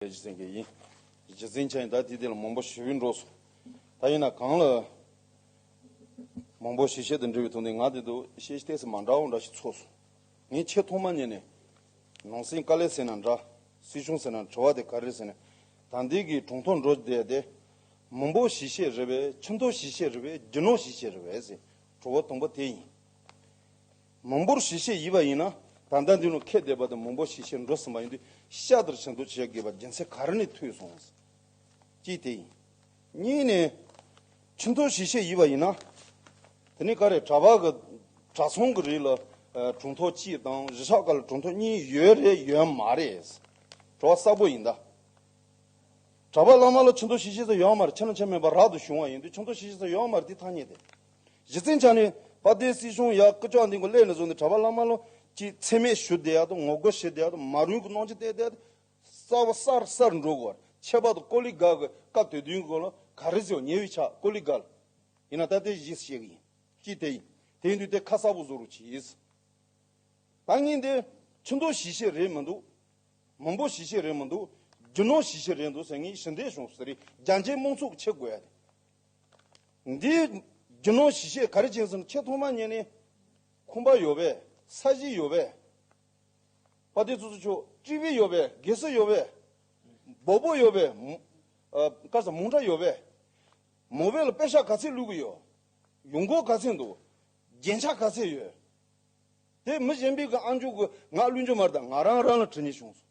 རྗེ་བཙུན་གྱི་ཡིན། རྗེ་བཙུན་ཆ་ཡིན་ད་དེ་དེ་ལ་མང་པོ་ཞི་བའི་འགྲོ་སོང། ད་ཡིན་ན་གང་ལ། མང་པོ་ཞི་བྱེད་དུ་འགྲིལ་བའི་དོན་དེ་ང་དེ་དུ་ཤེས་ཤེས་ལྟས་སུ་མ་འདྲ་བོ་འདྲ་ཞིག་ཚོར་སོང། ངས་ཆེས་ཐོག་མ་ཉན་ནས། ནང་སེང་དཀའ་ལས་ཟེར་ན་འདྲ། སྲིད་གཞུང་ཟེར་ན་དྲི་བ་དེ་ག་རེ་ཟེར་ནས། དང་འདི་གི་གྲོང་ཐོག་འགྲོ་བསྡད་དེ། མང་པོ་ཞི་བྱེད་རེད་བས་ཁྱིམ་ཐོ་ཞི་བྱེད་རེད་བས་རྒྱུ་ནོར་ཞི་བྱེད་རེད་བས་ཟེར། དྲི་བ་དང་པོ་དེ་ཡིན། མང་པོར་ཞི་ཞེས་ཡིད་པ་ཡིན་ན། ད་ལྟ་འདི་རུ་ཁད་བསྡད་པ་དེ་མང་པོ་ཞི་ཞེས་འགྲོ་ཟིན་པ་ཡིན་དུས་ཤ་ལྟར་བྱེད་འདུག་བྱེད་དགོས་པ་རྒྱལ་མཚན་ག་རེ་ནས་ཐོས་སོང་ཟེར། གཅིག་དེ་ཡིན། གཉིས་ནས། ཁྱིམ་ཚང་ཞི་ཞེས་ཡིད་པ་ཡིན་ན། དེ་ནི་ག་རེ་གྲྭ་བ་གི་གྲྭ་ཚང་གི་རིགས་ལ་གྲོང་ཐོག་གཅིག་དང་གཞི་ཆགས་ཀ་ལ་གྲོང་ཐོག་གཉིས་ཡོད་རེད་ཡོད་མ་རེད། བྲོ་བ་བསགས་པོ་ཡིན་ད། གྲྭ་བ་བླ་མ་ལ་ཁྱིམ་ཚང་ཞི་ཞེས་ས་ཡོད་མ་རེད་ཁྱེད་རང་ཆ་མེད་པར་རག་ཏུ་བྱུང་བ་ཡིན་དུས་ཁྱིམ་ཚང་ཞི་ཞེས་ས་ཡོད་མ་རེད་འདི་ཐ་སྙད་དེ། གཞི་བཙན་བྱང་ནི་དཔའ་རྟའི་སྲིད་གཞུང་ཡག་སྐུ་ཅོག་འདི་འགོ་སླད་ནས་བཟུང་སྟེ་གྲྭ་པ་བླ་མ་ལོ་གཅིག་འཚེ་མེད་ཞུ་བདེ་ཡག་ཏུ་ངོ་རྒོལ་བྱེད་བདེ་ཡག་ཏུ་མ་རུལ་གྱི་གནོང་ཆེན་བསྟེན་བདེ་ཡག་ཏུ་གསར་བ་གསར་གསར་འགྲོ་དགོས་པར་ཁྱད་པར་དུ་ཀོ་ལི་གྷ་གི་སྐབས་དེ་དུས་ཀྱི་ཀོ་ལི་གྷ་རེད་ཟེར་བ་ཉེ་བའི་ཆ་ཀོ་ལི་གྷ་ལ་ཡིན་ན་ད་ལྟའི་གཞིས་བཤད་ཀྱི་ཡིན་གྱི་དེ་ཡིན་དེ་ཡིན་དུས་དེ་ཁ་གསར་བུ་བཟོ་རུ་གྱིས། ད་ངེས་འདི་ཁྱི་མདོག་གཞིས་བཤད་རེད་མི་འདུག་མི་འབོ་གཞིས་བཤད་རེད་མི་འདུག་རྒྱུ་ནོར་གཞིས་བཤད་རེད་འདུག་ཟེར་ངེས་ཞི་བདེ་གཞུང་ཟེར་རིགས་རྒྱ་འཇེ་རྨོངས་ཚུགས་ཆེ་དགོས་ཡ་དེ། འདིའི་རྒྱུ་ནོར་གཞི་ཤེས་ག་རེ་བྱིན་ཟིན་ཆེས་ཐོག་མ་ཉིད་ནི། ཁུམ་པ་ཡོད་པས་ས་གཞི་ཡོད་པས། པ་ཏི་ཙུ་ཙུ་ཆོ་ཀྲི་བི་ཡོད་པས་གེ་སི་ཡོད་པས། སྦོ་པོ་ཡོད་པས། ཀ་ས་མུང་ཁྲ་ཡོད་པས། མོ་བེ་ལ་པེ་ཤ་ག་ཚིག་ལུས་ཀྱི་ཡོད། ཡུང་གོ་ག་ཚིག་འདུག། རྒྱན་ཆ་ག་ཚིག་ཡོད། དེ་མི་གཞན་པིག་གི་ཨང་ཅུག་གི་ངག་བླུན་ཅོ་མར་དང་ང་རང་རང་ལ་དྲི་ནི་བྱུང་སོང།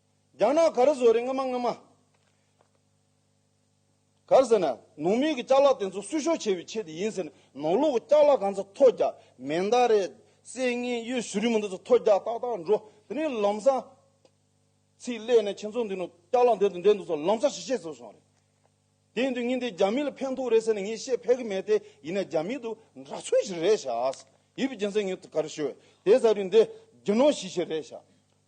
རྒྱང་ནག་གར་བཟོ་རེད་སྔོན་མ་སྔོན་མ། གར་ཟེར་ན་ནང་མི་གི་ལྕགས་ལག་དེ་ཚོ་གསོད་ཤོག་བྱེད་པའི་ཆེད་དུ་ཡིན་ཟེར་ནས་ནང་ལོག་གི་ལྕགས་ལག་གང་ཚ་ཐོ་རྒྱག་མེ་མདའ་རེད་བསད་ངན་གཡོ་ཞུ་རིན་མོ་འདི་ཚོ་ཐོ་རྒྱག་ཏག་ཏག་འགྲོ་དེ་ནས་ལམ་སང། ཚིག་ལས་ནས་ཁྱེད་ཚོ་འདི་ནང་ལྕགས་ལག་འདེད་དང་འདེད་འདུག་ཚོ་ལམ་སང་ཞི་བྱེད་བཟོ་སོང་རེད། དེ་འདི་ཉིན་དེ་རྒྱ་མི་ལ་ཕན་ཐོག་རེད་ཟེར་ནས་ངས་བཤད་ཕེབས་ཀྱི་མེད་དེ་ཡིན་ན་རྒྱ་མི་དུ་འདྲ་ཚོད་ཞིག་རེད་ཤག་ཨཱས་ཡིད་བརྒྱན་ཚེ་ངས་ག་རེ་ཤོད་དེ་ཟ་རིན་དེ་རྒྱུ་ནོར་ཞིག་ཞིག་རེད་ཤག་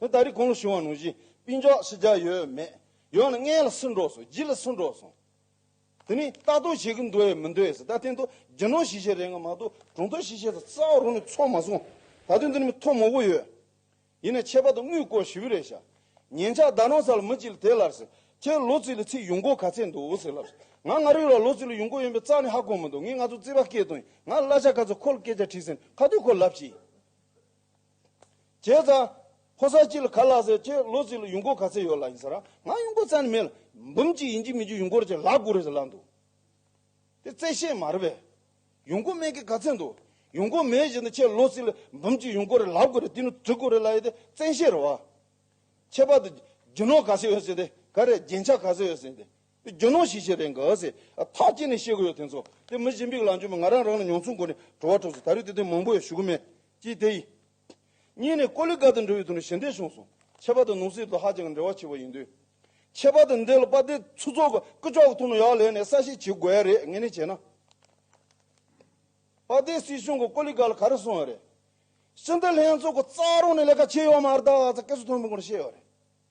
དེ་ད་རིས་གང་ལ་ཞུ་བ་ནོར་ཞིག་པིན་ཅོག་ཞིག་རྒྱག་ཡོད་མེད་ཡོང་ན་ལྔའི་ལ་སུན་འགྲོགས་སོང་བཞི་ལ་སུན་འགྲོགས་སོང་དེ་ནས་ལྟ་རྟོག་བྱེད་ཀྱི་འདུག་ཨེ་མི་འདུག་ཨེ་ཟེར་ད་དེ་འདུག་རྒྱུ་ནོར་ཞིག་ཞིག་རེད་ང་མ་གཏོགས་གྲོང་ཚོ་ཞིག་ཞིག་ལ་རྩ་བ་རུང་ནས་ཚོགས་མ་སོང་ད་དེ་འདི་ནས་མི་ཐོག་མོག་པོ་ཡོད་ཡིན་ནས་ཆད་པ་དང་དངུལ་སྐོར་ཞི་བི་རེ་བྱ། ཉན་ཆག་ཟླ་ནང་ས་ལ་མི་གཅིག་ལ་དེ་ལར་ཟེར། ཁྱེད་ལོ་ཙིས་ལ་ཚིག་ཡོང་སྒོ་ག་ཚད་འདུག་ཟེར་ལབ། ང་ང་རིག་ལ་ལོ་ཙིས་ལ་ཡོང་སྒོ་ཡོད་པའི་རྩ་ནི་ཧ་གོ་མི་འདུག་ངས་ང་ཚོ་རྩིས་པ་སྐད་དོན་ཡིན་ང་ལ་གླ་ཆ་ག་ཚོད་ཁོ་ལ་སྐད་ཆ་དྲིས་ཟེར་ཁ་ཐུག་ཁོ་ལབ་ཅི། བྱས་ཙང། ཕོ་སར་གཅིག་ལ་ག་ལ་ཟེར་ཁྱེད་ལོ་ཙིས་ལ་ཡོང་སྒོ་ག་ཚད་ཡོད་ལ་ཡིན་ཟེར་ར་ང་ཡོང་སྒོ་རྩ་ནི་མེད་ལ། འབུམ་གཅིག་ཡིན་གྱི་མིན་གྱི་ཡོང་སྒོར་ཅི་ལ་དགོས་རེད་ཟེར་ལབ་འདུག། དེ་བཙལ་བཤད་མ་རེད་པས། ཡོང་སྒོ་མེད་ཀི་ག་ཚད་འདུག་ཡོང་སྒོ་མེད་བཞིན་དུ་ཁྱེད་ལོ་སི་ལ་འབུམ་གཅིག་ཡོང་སྒོ་རེད་ལབ་དགོ་རེད་དེ་ནི་དྲི་གོ་རེད་ལ་ཡི་དེ་བཙན་བཤད་རེད་བ། ཁྱད་པར་དུ་རྒྱུ་ནོར་ག་ཚད་ཡོད་སྲིད་དེ་ག་རེད་རྒྱན་ཆ་ག་ཚད་ཡོད་སྲིད་དེ་དེ་རྒྱུ་ནོར་ཞིག་ཞིག་རེད་འགའ་ཟེ་ཐག་བཅད་ནས་བཤད་གོ་ཡོད་དེ་ཚོ་དེ་མི་གཞན་པིག་ལ་འཇོན་པའི་ང་རང་རང་ལ་མྱོང་ཚོར་སྒོ་ནས་བྲོ་བ་འཁྲབ་སྲིད་ད་རེས་དེ་དོན་མང་པོ་ཡོད་ཞུ་གི་མེད་ཀི་དེ་ཡི། གཉིས་ནས་ཀོ་ལི་ག་དུ་འགྲོ་བའི་དུས་ནས་ཞི་འདེད་བྱུང་སོང། ཁྱད་པར་དུ་ནུབ་སྲིད་དུ་ཧ་ཅང་འབྲེལ་བ་ཆེ་བ་ཡིན་དུས། ཁྱད་པར་དུ་འདི་ལ་པ་ཏའི་ཚུ་ཚོགས་ཀྱི་སྐུ་ཕྱོགས་ཐུགས་ནོར་ཡག་ལེན་ནས་གསལ་བཤད་བྱེད་དགོས་ཡ་རེད་ངེས་ནས་བྱས་ན། པ་ཏའི་སྲིད་གཞུང་གི་ཀོ་ལི་ག་ལ་ག་རེ་སོང་ཡ་རེད། སྤྱི་འཐུས་ལྷན་ཚོགས་ཀྱི་རྩ་རོགས་ནས་ལས་ཀ་བྱས་ཡོད་མ་རེད་ད་ཧ་ཚ་སྐད་ཆ་མཐོན་པོ་ཀུན་ནས་བཤད་ཡོད་རེད།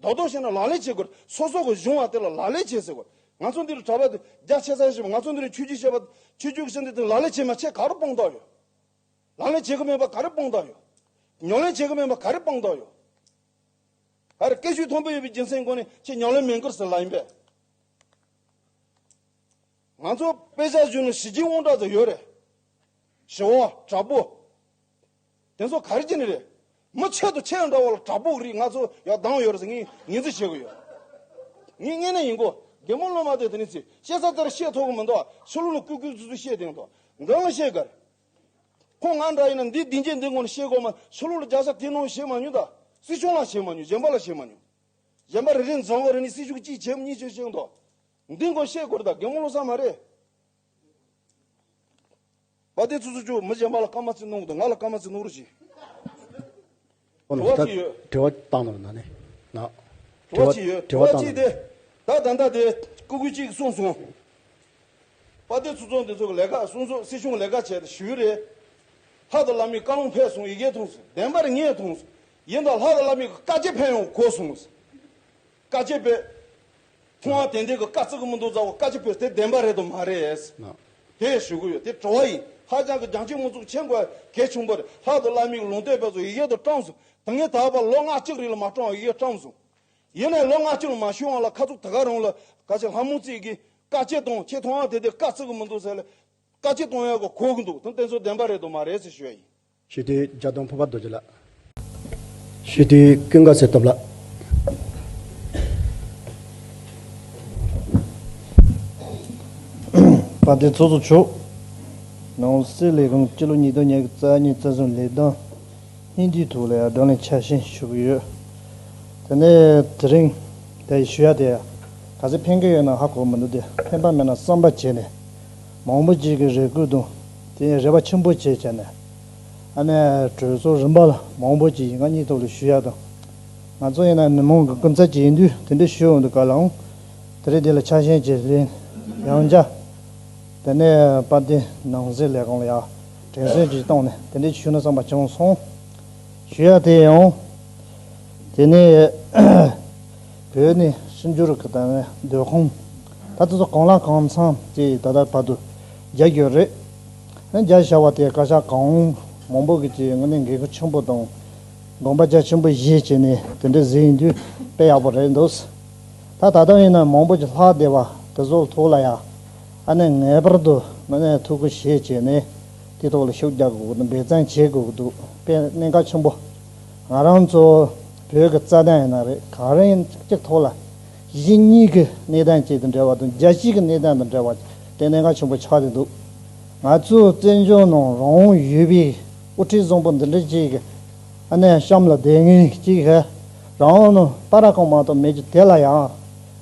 རྡོག་རྡོག་བྱས་ན་ལག་ལེན་བྱེད་དགོས། སོ་སོ་གི་གཞུང་བ་དེ་ལ་ལག་ལེན་བྱེད་ཟེར་དགོས། ང་ཚོ་འདི་རུ་གྲྭ་པ་དེ་རྒྱ་ཆེ་ས་ཞིག་བ་ང་ཚོ་འདི་རུ་ཆོས་བརྒྱུད་བྱེད་པ། ཆོས་བརྒྱུད་ཀྱི་ཆེ་འདི་དེ་ལག་ལེན་བྱེད་མ་བྱེད་ག་རུ་དཔང་རྟགས་ཡོད། ལག་ལེན་བྱེད་གི་མེད་པ་ག་རེ་དཔང་རྟགས་ཡོད། ཉོག་ལེན་བྱེད་གི་མེད་པ་ག་རེ་དཔང་རྟགས་ཡོད། ཨ་རེ་སྐད་ཤུགས་མཐོན་པོ་ཡོད་པའི་རྒྱུ་མཚན་དགོས་ནས་ཁྱེད་ཉོག་ལེན་མེད་འཁུར་ཟེར་ལ་ཡིན་པས། ང་ཚོ་དཔེ་ཆ་གཞུང་ནས་ཞི་རྒྱས་དབང་གྲགས་དེ་ཡོད་རེད། ཞི་བ། དྲག་པོ། དེ་ཚོ་ག་རེ་ཅི་ནས་རེད། མི་ཆེད་དུ་ཆེད་འགྲོ་བ་ལ་དྲ་འབུག་རིགས་ང་ཚོ་ཡག་སྡང་ཡོད་རེད་ཟེར་ངས་ངེས་འཛིན་བྱེད་དགོས་ཡོད། ངས་བརྙན་ནས་ཡིན་གོ། རྒན་མོ་བློ་མ་བདེ་དེ་ནས་ཚིག་བཤད་ཚར་ཚར་བཤད་ཐུབ་གི་མི་འདུག་ཕྱི་ལོག་ལ་ཀུས་ཀུས་ཙུ་ཙུ་བཤད་དེང་འདུག་འགངས་ལ་བཤད་དགའ་རེད། ཁོང་ང་འདྲ་ཡིན་ན་འདི་འདི་བྱེད་འདི་དགོངས་ནས་བཤད་དགོས་མ་ཕྱི་ལོག་ལ་རྒྱ་ས་དེ་ནོ་བྱེད་མ་མྱོང་ད་སྲིད་སྐྱོང་ལ་བྱེད་མ་མྱོང་གཞན་པ་ལ་བྱེད་མ་མྱོང། གཞན་པ་རེ་རེ་འཛིང་གོ་རེ་ནས་སྲིད་སྐྱོང་གཅིག་བྱེད་མ་གཉིས་བྱེད་བྱེད་འདུག་འདི་དགོངས་བཤད་དགོས་རེད་ད་རྒན་མོ་བློ་བཟང་མ་རེད། བ་དེ་ཚོ་ཚོ་ཅུ་མི་གཞན་པ་ལ་སྐར་མ་རྩིས་སྣོང་གི་འདུག་ང་ལ་སྐར་མ་རྩིས་སྣོང་རོགས་གྱིས། དྲི་བ་ཅི་ཡོད། དྲི་བ་བཏང་ནོ་ན་ནས་ན། དྲི་བ་ཅི་ཡོད་དྲི་བ་ཅི་དེ་ད་ད་ད་དེ་ཀུ་ཀུ་ཅིག་གསུངས་སོང། བ་དེ་ཚོ་ཚོ་འདི་ཚོ་གི་ལས་ཀ་གསུངས་སོང་སྲིད་གཞུང་ལས་ཀ་བྱས་ཏེ་ཞི་བི་རེད། ལྷ་དང་བླ་མའི་བཀའ་ལུང་ཕེབས་སོང་ཡི་གེ་ཐོངས་སོང་བདེན་པར་ངས་ཐོངས་སོང་ཡིན་དང་ལྷ་དང་བླ་མའི་བཀའ་ཅི་ཕན་ཡོང་གོ་སོང། བཀའ་སྤྱི་བོས། ཁོང་ཨ་དེ་འདྲའི་གི་བཀའ་བརྩི་གི་མི་འདུག་རྫ་བོ་བཀའ་སྤྱི་བོས་དེ་བདེན་པ་རེད་དུ་མ་རེད། དེ་ཞུ་གི་ཡོད་དེ་བྲོ་བ་ཡིན། ཧ་ཅང་གི་རྒྱང་ཁྱིམ་དངོས་གཙུག་ཆེན་དགོས་གལ་ཆུང་པོ་རེད་ལྷག་ཏུ་བླ་མིའི་གི་ལུང་བསྟོད་པས་སུ་ཡི་གེ་དུ་བཀྲམས་སུ་དེ་ངས་ད་བར་ལོ་ལྔ་གཅིག་རིང་ལ་མ་བཀྲམས་བ་ཡི་གེ་བཀྲམས་སུ། ཡིན་ནའི་ལོ་ལྔ་གཅིག་ལ་མ་ཞུས་དབང་ལ་ཁ་ཚུགས་ད་ག་རུང་ལ་ག་ཅི་ལྷ་མོ་བརྩིས་གི་བཀའ་སྤྱི་གཏོང་ཁྱེད་ཐོང་ཨ་དེ་འདྲའི་བཀའ་བརྩི་གི་མི་འདུག་ཟེར་ལ། བཀའ་སྤྱི་གཏོང་ཡག་གི་གོ་གི་འདུག་དེ་དེ་ཚོ་བདེན་པ་རེད་དུ་མ་རེད་ཟེར་ཞུ་བ་ཡིན། ཞུས་དུས་འཇའ་སྟོང་ཕུར་པ་རྡོ་རྗེ་ལགས། ཞུས་དུས་ཀུན་དགའ་གསེར་སྟོབས་ལགས། པ་དེ་ཚོགས་གཙོ་མཆོག། ནང་སྲིད་ལས་ཁུངས་སྤྱི་ལོ་ཉིས་སྟོང་ཉེར་གཉིས་རྩ་གཉིས་རྩ་གསུམ་ལས་དོན་སྙིང་བསྡུས་ཐུགས་ལ་ཡར་ལྡང་ལས་འཆར་བཞིན་ཞུ་གི་ཡོད། དེ་ནས་དེ་རིང་དེ་ཞུ་ཡ་དེ་ག་ཚད་ཕན་གི་ཡོད་ན་ཧ་གོ་མི་འདུག་དེ་ཕན་པ་མེད་ན་བསམ་པ་བྱས་ནས་མང་པོ་ཅིག་གི་རེ་སྐུལ་དང། དེ་ཡང་རེ་བ་ཆེན་པོ་བྱས་བྱས་ནས་ཨ་ནེ་གྲོས་ཚོགས་རིམ་པ་ལ་མང་པོ་ཅིག་ཡིན་ང་གཉིས་ཐོག་ལ་ཞུ་ཡག་དང། ང་ཚོ་ཡིན་ན་མི་མང་གི་སྐུ་ཚབ་ཅིག་ཡིན་དུས་དེ་འདྲ་ཞུ་འོང་དུ་ག་ལ་འོང། དེ་རིང་དེ་ལ་ཆགས་ཞེན་བྱེད་ལེན་ཡང་བྱ། དེ་ནས་དཔལ་ལྡན་ནང་སྲིད་ལས་ཁང་ལ་ཡང་དྲན་གསོ་ཅིག་བཏང་ནས་དེ་འདྲ་ཞུ་ན་བསམ་པ་བྱུང་སོང། ཞུ་ཡག་དེ་ཡང་འོང། དེ་ནས་བོད་ནས་ཕྱི་འབྱོར་གི་ད་བའི་སྡོད་ཁང། ད་ལྟ་ཚོ་གང་ལ་གང་འཚམ་ཅིག་ད་ལྟ་བར་དུ། རྒྱ་གྱོད་རེད། རྒྱ་བྱ་བ་དེ་བཀའ་ཤག་གང་མང་པོ་གྱིས་དངོས་གནས་འགན་ཁུར་ཆེན་པོ་དང་དགོངས་པ་རྒྱ་ཆེན་པོ་བཞེས་བྱས་ནས་དེ་འདྲའི་གཟིགས་ཡིན་དུས་དཔེ་ཡག་པོ་རེད་འདུག། ད་ད་ལྟ་ཡིན་ན་མང་པོ་གྱིས་ལྷག་བདེ་བ་དེ་ཚོ་ཐུགས་ལ་ཡ་ཨ་ནས་ངེས་པར་དུ་དངོས་གནས་ཐུགས་ཁུར་བཞེས་བྱས་ནས་དེའི་ཐོག་ལ་ཤུགས་རྒྱག་དགོས་འབད་བརྩོན་བྱེད་དགོས་འདུག་དཔེ་གནད་འགག་ཆེན་པོ། ང་རང་ཚོ་བོད་ཀྱི་རྩ་དོན་ཡིན་ན་རེད་གང་རིང་གཅིག་ཐོག་ལ། གཞི་གཉིས་ཀྱི་གནས་སྟངས་བཅས་དང་འབྲེལ་བ་དང་རྒྱལ་སྤྱིའི་གནས་སྟངས་དང་འབྲེལ་བ་དེ་གནད་འགག་ཆེན་པོ་ཆགས་ཀྱི་འདུག་ང་ཚོའི་བཙན་བྱོལ་ནང་རང་དབང་ཡོད་པའི་དབུ་ཁྲིད་བཟང་པོ་འདི་འདྲ་ཅིག་ཨ་ནེ་གཤམ་ལ་བསྡད་ངེས་ཅིག་རང་དབང་ནང་པ་ར་གང་མང་དག་མེད་ཅིག་དེ་ལ་ཡང་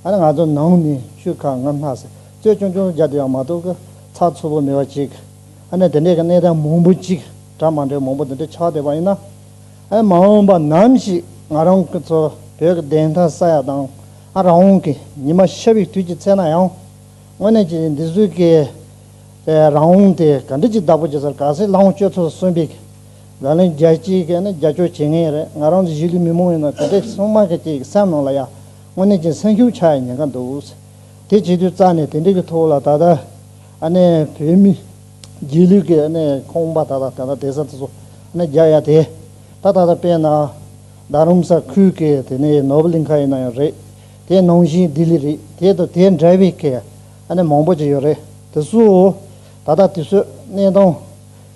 ཨ་ནེ་ང་ཚོ་ནང་ནས་ཤུལ་ཁ་ང་སྣ་ཟེར་རྩོད་ཆུང་ཆུང་རྒྱག་དེ་ཡང་མ་གཏོགས་གི་ཚགས་ཚུད་པོ་མེད་པ་ཅིག་ཨ་ནེ་དེ་འདྲའི་གནས་སྟངས་མང་པོ་ཅིག་གྲ་མ་འདྲའི་མང་པོ་འདི་འདྲ་ཆགས་བསྡད་པ་ཡིན་ན། མ་འོངས་པ་ནམ་ཞིག་ང་རང་གི་ཚོ་བོད་ཀྱི་བདེན་མཐའ་ས་ཡ་དང་རང་དབང་གི་ཉི་མ་ཤར་བའི་དུས་ཀྱི་ཚེ་ན་ཡང། དངོས་གནས་ཀྱི་འདི་ཟུར་བཀའི་རང་དབང་དེ་ག་འདྲ་གྱི་བདག་པོ་བྱེད་སར་ག་སའི་ལྷང་སྤྱོད་ཚོར་གསོན་པའི་ལག་ལེན་རྒྱ་སྤྱིའི་ཁེ་ནི་རྒྱ་སྐྱོར་བྱེད་ངེས་རེད་ང་རང་ཚོ་གཞིས་ལུས་མི་མང་ཡིན་ན་ག་འདྲའི་སྲུང་དམག་གི་བཅས་ཀྱི་སེམས་ནང་ལ་ཡ་དངོས་གནས་ཀྱི་སེམས་ཤུགས་ཆག་ཡ་ཉེན་ཁ་འདུག་དེ་བྱེད་དུས་རྩ་ནས་དེ་འདྲའི་གི་ཐོག་ལ་ད་ལྟ་ཨ་ནེ་བོད་མི། རྗེས་ལུས་ཀྱི་ཁོང་པ་དག་ལ་ད་ལྟ་དེ་ས་དེ་ཚོ་བརྒྱ་ཡ་དེ་ད་ལྟ་དཔེ་ན་རྡ་རམ་ས་ཁུལ་གྱི་དེ་ནས་ནོ་བྷེལ་གླིང་ཁ་ཡིན་ན་ཡང་རེད་དེ་ནང་བཞིན་ལྡི་ལི་རེད་དེ་དང་དེ་འདྲ་བའི་གི་ནས་མང་པོ་ཅིག་ཡོད་རེད་དེ་ཚོ་ད་ལྟ་དེ་ཚོའི་གནས་སྟངས་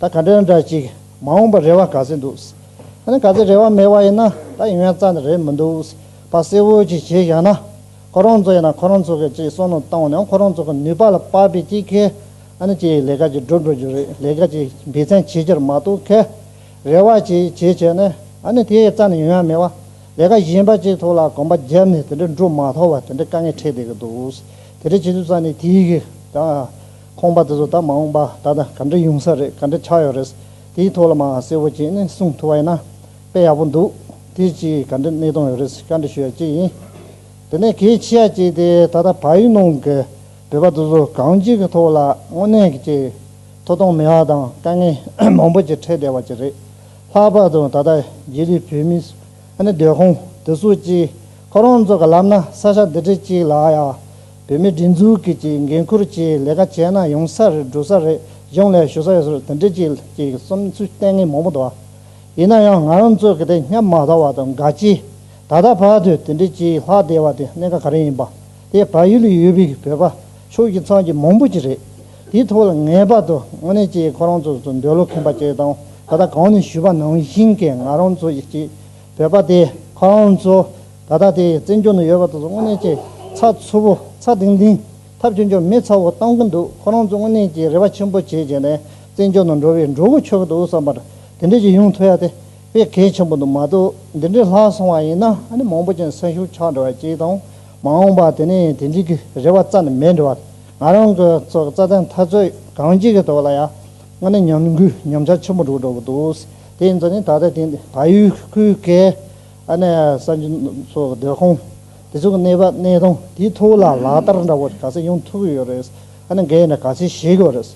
ད་ག་འདྲ་འདྲ་ཅིག་མ་འོངས་པར་རེ་བ་ག་ཚོད་འདུག་ཨ་ནི་ག་ཚོད་རེ་བ་མེད་པ་ཡིན་ན་ད་ཡོན་རྩ་ནི་རེད་མི་འདུག་བ་གསལ་བོ་ཅིག་བྱས་བཞག་ན་ཁོ་རང་ཚོ་ཡིན་ན་ཁོ་རང་ཚོ་གི་ཅིག་བསོད་ནམས་བཏང་བ་ནི་ཁོ་རང་ཚོ་གི་ནུས་པ་ལ་དཔག་པའི་ཅིག་གི་ཨ་ནི་ཅིའི་ལས་ཀ་ཅིག་བསྒྲུབ་འགྲོ་རྒྱུ་རེད་ལས་ཀ་ཅིག་སྦས་ཚན་བྱེད་རྒྱུར་མ་གཏོགས་ཁེ་རེ་བ་ཅིག་བྱེད་ཆོད་ནི་ཨ་ནི་དེའི་རྩ་ནས་ཡོང་ཡ་མེད་བ། ལས་ཀ་གཞན་པ་ཅིག་ཐོག་ལ་གོམ་པ་བརྒྱབ་ནས་དེ་འདྲ་འགྲུབ་མ་ཐག་བ་དེ་འདྲ་དཀའ་ངལ་འཕྲད་བསྡད་ཀྱི་འདུག་དེ་འདྲ་བྱེད་དུས་རྩ་ནས་དེའི་གི་ད་ཁོང་པ་དེ་ཚོ་ད་མ་འོངས་པ་ད་ད་ག་འདྲ་ཡོང་ས་རེད་ག་འདྲ་ཆགས་ཡོད་རེད་དེའི་ཐོག་ལ་མ་གསལ་བོ་བྱས་ནས་གསུངས་ཐུབ་བ་ཡིན་ན་དཔེ་ཡག་པོ་འདུག་དེ་ཅིའི་ག་འདྲ་གནས་སྟངས་ཡོད་རེད་ག་འདྲ་ཞུ་ཡ་ཅིག་ཡིན་དེ་ནས་གེ་ཆི་ཡ་ཅིག་དེ་ད་ད་བ་ཡུལ་ནང་གི། བོད་པ་སོ་སོ་གང་ཅིའི་གི་ཐོག་ལ་དངོས་གནས་ཀྱི་ཅིག་ཐོ་གཏོང་མི་ཧ་དང་དཀའ་ངལ་མང་པོ་ཅིག་འཕྲད་བསྡད་བ་ཅིག་རེད། ལྷག་པར་དུ་ད་ལྟ་རྗེས་ལུས་བོད་མི་སོ་ནི་སྡོད་ཁང་དེ་སོ་ཅིག་ཁོ་རང་ཚོ་གི་ལབ་ན་ས་ཆ་འདི་འདྲི་ཅིག་ལ་ཡ་བོད་མི་སྒྲིག་འཛུགས་ཀྱི་ཅིག་འགན་ཁུར་ཅིག་ལས་ཀ་བྱས་ན་ཡོང་ས་རེད་འགྲོ་ས་རེད་གཞུང་ལས་ཞུ་ས་ཡོད་སོ་དེ་འདྲི་ཅིག་ལ་ཅིག་བསམ་ཚུལ་གཏན་ངེས་མང་པོ་འདུག་ཡིན་ན་ཡང་ང་རང་ཚོ་གི་དེ་སྙམ་མ་ཐག་བ་དང་དགའ་ཅིག་ད་ལྟ་བར་དུ་དེ་འདྲི་ཅིག་ལྷག་བསྡད་བ་དེ་གནད་ཀ་ག་རེ་ཡིན་པ། དེ་བལ་ཡུལ་ལ་ཡོད་པའི་བོད་པ་ཕྱོགས་ཀྱི་ཚང་གི་མང་པོ་ཅིག་རེད། དེའི་ཐོག་ལ་ངེས་པར་དུ་དངོས་གནས་ཀྱིས་ཁོ་རང་ཚོ་ཚོ་འདོད་བློ་ཁེངས་པ་བཅས་དང་ད་ལྟ་གང་ནས་ཞུས་པ་ནང་བཞིན་གྱི་ང་རང་ཚོ་ཀྱི་བོད་པ་དེ་ཁོ་རང་ཚོ་ད་ལྟ་དེ་བཙན་བྱོལ་ནང་ཡོད་པ་དང་ཚོ་དངོས་གནས་ཀྱིས་ཚ་ཚུར་བོ་ཚ་དིང་དིང་ཐབས་བྱུང་ཆོག་མི་ཚ་བོ་བཏང་གི་འདུག་ཁོ་རང་ཚོ་དངོས་གནས་ཀྱིས་རེ་བ་ཆེན་པོ་བྱེད་བྱས་ནས་བཙན་བྱོལ་ནང་འགྲོ་བའི་འགྲོ་བོ་ཆོག་གི་འདུག་བསམ་པར་དེ་འདྲས་ཀྱི་ཡོང་ཐུབ་ཡ་དེ་དཔེ་གལ་ཆེན་པོ་འདུག་མ་གཏོགས་འདི་འདྲས་ལྷག་སོང་བ་ཡིན་ན་ཨ་ནི་མང་པོ་ཅན་སེམས་ཤུགས་ཆག་འགྲོ་བ་བཅས་དང། མ་འོངས་པ་དེ་ནི་དེ་འགྲིག་གི་རེད་བ་རྩ་ནས་མེད་འགྲོ་བ་ང་རང་གི་ཚོ་རྩ་དེ་མཐའ་རྩོད་གང་ཅི་གི་ཐོག་ལ་ཡང་ང་ནི་ཉམས་འགུལ་ཉམས་ཆག་ཆེན་པོ་འགྲོ་འགྲོ་གི་འདུག་དེའི་ཚོ་ནི་ད་ལྟ་དེ་ཕ་ཡུལ་ཁུལ་གྱི་ཨ་ནེ་གསར་འབྱོར་ཚོ་གི་སྡོད་ཁང་དེ་ཚོ་གི་གནས་བབ་གནས་སྟངས་དེའི་ཐོག་ལ་ལག་བསྟར་འདྲ་བོ་ག་ཚད་ཡོང་ཐུབ་ཀྱི་ཡོད་རེད་ཨ་ནེ་འགས་ནས་ག་ཚད་བྱེད་ཀྱི་ཡོད་རེད།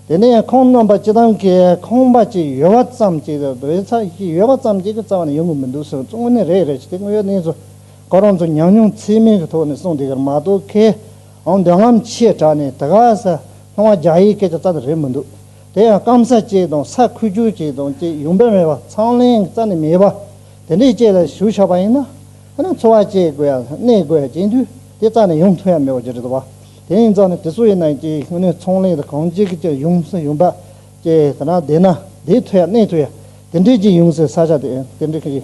དེ་ནས་ཁོང་རྣམ་པ་སྤྱི་བཏང་གི་ཁང་པ་གཅིག་ཡོད་བ་ཙམ་གཅིག་སྡོད་ས་གཅིག་ཡོད་བ་ཙམ་གཅིག་གི་རྩ་བ་ནས་ཡོང་གི་མི་འདུག་ཟེར་བ་ཚོ་དངོས་གནས་རེད་རེད་ཅེས་དེ་དངོས་ཡོད་གནས་ཚུལ། ཁོ་རང་ཚོ་ཉམས་མྱོང་ཚད་མེད་ཀྱི་ཐོག་ནས་གསུངས་འདི་གར་མ་གཏོགས་མཁས་དབང་འདོད་རྔམ་ཆེ་དྲགས་ནས་དེ་ག་ས་ལྷུང་བ་རྒྱག་ཡས་སྐད་ཆ་རྩ་ནས་རེད་མི་འདུག་དེ་ཡང་སྐམ་ས་གཅིག་དང་ས་ཁུལ་ཆུང་གཅིག་དང་བཅས་ཡུམ་བེ་མེད་པ་ཚང་ལེན་གྱི་རྩ་ནས་མེད་པ་དེ་འདྲས་བཅས་ལ་ཞུགས་ཆགས་པ་ཡིན་ན་ཧ་ན་འཚོ་བ་སྐྱེལ་དགོས་ཡ་གནས་དགོས་ཡ་བྱེད་དུས་དེ་རྩ་ནས་ཡུམ་ཐུག་ཡ་མེད་པ་ཅི་རེད་དོ་བ་དེ་ཡིན་རྩ་ནས་དེ་སུ་ཡིན་ན་ཡིན་ཀྱི་ངོས་ནས་ཚང་ལེན་དང་གང་བྱེད་ཀྱི་ཀྱི་ཡུམ་ས་ཡུམ་བ་བཅས་ད་ན་བསྡད་ན་བསྡད་ཐུག་ཡ་གནས་ཐུག་ཡ་དེ་འདྲས་ཀྱི་ཡུམ་སའི་ས་ཆ་དེ་འདྲས་ཀྱི།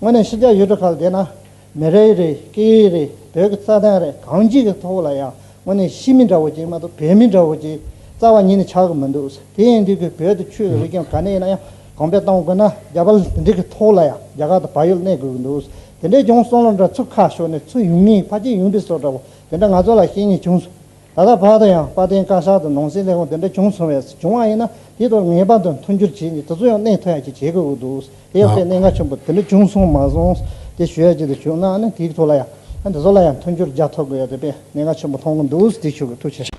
དངོས་གནས་ཤི་རྒྱག་ཡུལ་གྲུ་ཁག་དེ་ན་མེ་རེ་རེ་སྐྱེ་ཡུལ་རེ་བོད་ཀྱི་རྩ་དོན་རེ་གངས་སྐྱིད་ཀྱི་ཐོག་ལ་ཡང་དངོས་གནས་ཤི་མི་འདྲ་བོ་ཅིག་མ་གཏོགས་བོད་མི་འདྲ་བོ་ཅིག་རྩ་བ་ཉིད་ནས་ཆགས་ཀྱི་མི་འདུག་དེ་ཡིན་དུས་ཀྱི་བོད་དུ་ཆོས་ཀྱི་རིག་གཞུང་ག་ནས་ཡིན་ན་ཡང་གོང་སྤེལ་གཏོང་དགོས་ན་རྒྱ་བལ་འབྲི་གི་ཐོག་ལ་ཡང་རྒྱ་གར་དང་བལ་ཡུལ་གནས་དགོས་ཀྱི་འདུག་དེ་འདྲའི་བྱུང་སོང་ལ་འདྲ་ཚུལ་ཁ་ཤོར་ནས་ཚུལ་ཡུང་མིན་ཕ་སྐྱིད་ཡུང་འབྲི་སོགས་འདྲ་བོ་དེ་འདྲ་ང་ཚོ་ལ་ཤེས་ངེས་བྱུང་སོང། ད་ལྟ་བར་དུ་ཡང་དཔལ་ལྡན་བཀའ་ཤག་ཏུ་ནང་སྲིད་ལས་ཁུངས་དེ་འདྲ་བྱུང་སོང་བས་བྱུང་བ་ཡིན་ན་དེའི་ཐོག་ངེས་པར་དུ་མཐུན་འགྱུར་བྱས་ནས་དེ་ཚོ་ཡང་གནད་ཐོན་ཡག་ཅིག་བྱེད་དགོས་འདུག་དེ་ཡང་དཔེ་གནད་འགག་ཆེན་པོ་དེ་འདྲ་བྱུང་སོང་མ་སོང་དེ་ཞུ་ཡག་ཅིག་དེ་བྱུང་ན་ནི་དེའི་ཐོག་ལ་ཡང་དེ་ཚོ་ལ་ཡང་མཐུན་འགྱུར་རྒྱག་ཐུབ་དགོས་ཡ་དེ་དཔེ་གནད་འགག་ཆེན་པོ་མཐོང་གི་འདུག་དེ་ཞུ་གི་ཐུགས་ཆེ།